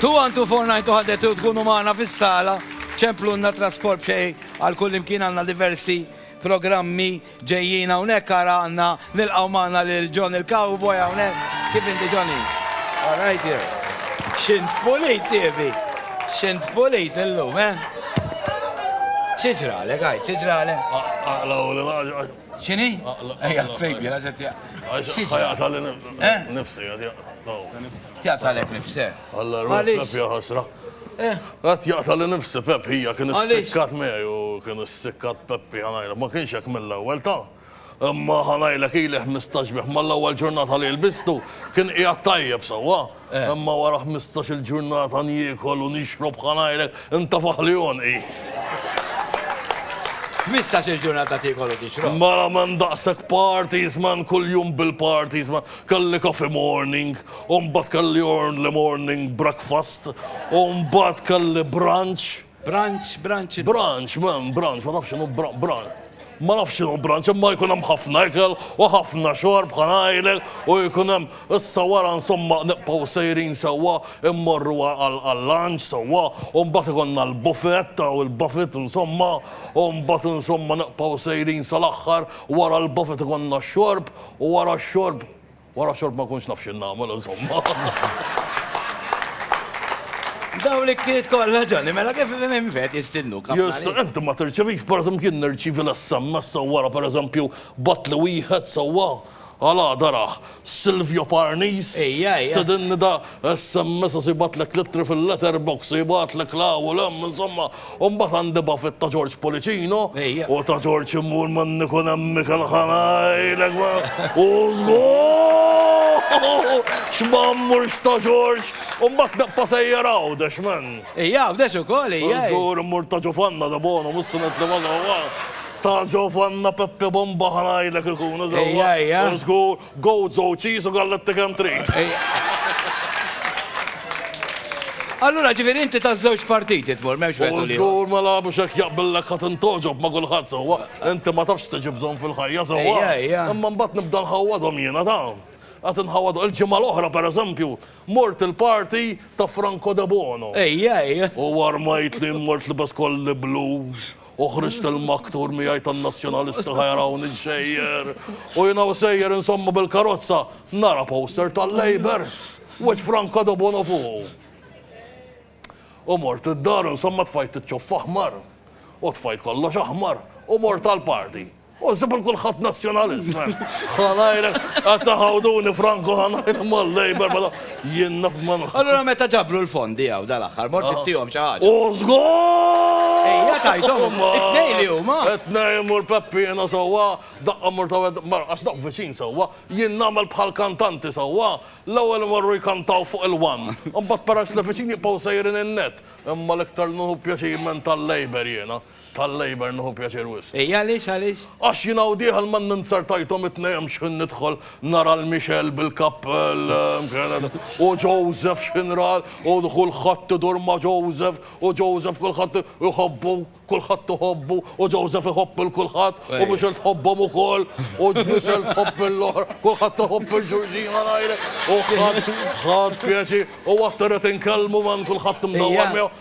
21249 tuħadet u tkunu magħna fis-sala, ċemplunna trasport b'xej għal kull imkien għandna diversi programmi ġejjin hawnhekk ara għandna nilqgħu magħna lil John il-Cowboy hawnhekk. Kif inti Johnny? All right jew. Xint pulit sievi. Xint pulit illum, eh? Xiġralek, għajt, xiġralek? Aqlaw li Xini? Ejja, fejbi, għazet ja. Għajatalek eh? nifsi, għajatalek nifsi. Alla, rufnaf jaħasra. Eh? Għat jaqtali nifsi Pep, hija kien s-sikkat meħi u kien s-sikkat Peppi ħanajla, ma kienx hekk mill-ewwel ta' imma ħanajla kili 15 biħ mal-ewwel ġurnata li l-bistu kien qiegħed tajjeb sewwa. Imma wara ħmistax-il ġurnata niekol u nixrob bħal għajrek, intafaħ li għonqi. Ħmistax-il ġurnata tiekol u tixrob? Mela m'hemm daqshekk parties man, kuljum bil-parties man. Kelli coffee morning, u mbagħad kelli early morning breakfast, u mbagħad kelli brunch. Branch, branch il-. Branch, m'hemm branch, ma nafx x'inhu bran, bran, ma nafx x'inhu branch, imma jkun hemm ħafna ikel u ħafna xorb bħal ngħidlek u jkun hemm issa wara insomma nibqgħu sejrin sewwa mmorru għall-lunch sewwa u mbagħad ikollna l-buffet hawn il-buffet insomma u mbagħad insomma nibqgħu sejrin sal-aħħar wara l-buffet ikollna x-xorb u wara x-xorb Wara xorb ma kontx naf xi nagħmel insomma. Daw li kiet kollha ġonni, mela kif minn fet jistinnu kap. Jista, inti ma tirċevix, per eżempju, jien nirċivi l-SMS sewwara per eżempju bat li wieħed sewwa għala daraħ Silvio Parnis stedinni da sms u se jbagħtlek l-ittri fil-letter box u jibgħatlek 'l hawn u 'l hemm insomma u mbagħad għandi bafit ta' George Policino u ta' George immur ma' Niko Nemmi kelħa ngħidlek ma u żgur x'm'ammur x'ta' George u mbagħad neqpa' sejjer Għawdex man. Ija Għawdex ukoll ija. U żgur immur ta' Ġufanna Debono mhux se nitla' ma' ta' Ġufanna Peppi Bomba ħa ngħidlek ikunu sewwa u żgur. Goats u cheese u galletti kemm trid. Allura ġifieri inti taż-żewġ partiti tmur, m'hemmx wieħed u l-ieħor. U żgur ma lagħbux hekk jaqbillek ħa tintgħoġob ma' kulħadd sewwa. Inti ma tafx x'tiġi bżonn fil-ħajja sewwa. Imma mbagħad nibda nħawwadhom jiena dawn. Qed inħawwadhom. Il-ġimgħa l-oħra pereżempju mort il-party ta' Franco Debono. U armajtli, mort libes kolli blu U ħriġt il-maktur miegħi tan-Nazzjonalisti ħa jarawni nsejjer. U jiena u sejjer insomma bil-karozza nara poster tal-Labour. Wiċċ Franka Dobono fuqu. U mort id-dar insomma tfajt iċ-ċuff aħmar. U tfajt kollox aħmar. U mort għall-party. U nsib il kulħadd nazzjonalist, man. Ħanajrek, qed taħawduni Franco ħanajrek mal-Labor, mela jien naf man. Allura meta ġabru l-fondi hawn dal-aħħar, mort ittihom xi ħaġa. U żgur! Ejja tajthom, it-tnej li huma. It-tnej mur Peppina sewwa, daqqa mur ta' mar għax daqq viċin sewwa, jien nagħmel bħal kantanti sewwa, l-ewwel imorru jkantaw fuq il-wan. Imbagħad peress li viċin jibqgħu sejrin in-net. Imma l-iktar nuhu pjaċir minn tal-Labor jiena. Tal-Labour nieħu pjaċir wisq. Ej għaliex għaliex? Għax jien hawn dieħel ma ninzertajthom it-tnejn x'ħin nidħol nara l Michelle bil-kappell mkienet u Joseph x'ħin ra u kulħadd idur ma' Joseph u Joseph kulħadd iħobbu kulħadd iħobbu u Joseph iħobb il kulħadd u Michelle tħobbhom ukoll u Michelle tħobb l-oħra kulħadd iħobb il-Ġurġina ngħidlek u ħadd ħadd pjaċi u aktar qed inkellmu man kulħadd imdawwar miegħu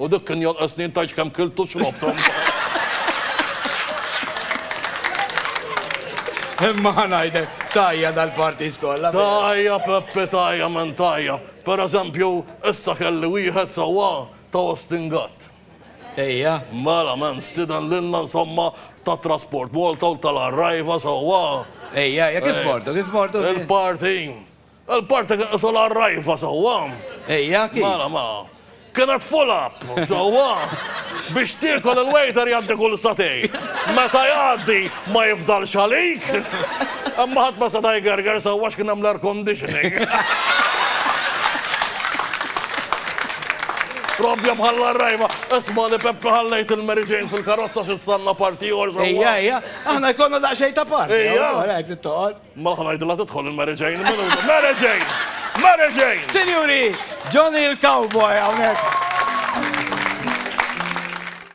U dik kien jonqosni int għax kemm kilt u xrobt umbagħad. Imma ħa ngħidlek, tajja dal-parties kollha. Tajja Peppi tajja minn tajja. Per eżempju, issa kelli wieħed sewwa ta' Austin Gatt. Ejja. Mela man stieden lilna insomma ta' Trasport Malta u tal-Arriva sewwa. Ejja ejja kif mortu, kif mortu? Il-party. Il-parti kien qisu l-għarrajfa sewwa. Ejja, kif? Mela, mela. Kienet full up, sewwa. Biex tiekol il-waiter jgħaddi kull satej. Meta jgħaddi ma jifdalx għalik. Imma ħadd ma seta' jgerger sewwa x'kien hemm l-air conditioning. Robbja bħal rajma, isma li Peppa ħallejt il-Mary Jane fil-karozza x'issanna parti or. Ejja, ejja, aħna jkollna daqsxejn ta' parti. Ejja, għalek tittoqgħod. Mela ħa ngħidilha tidħol il-Mary Jane minuta. Mary Jane! Mary Jane! Sinjuri, Johnny il-Cowboy hawnhekk.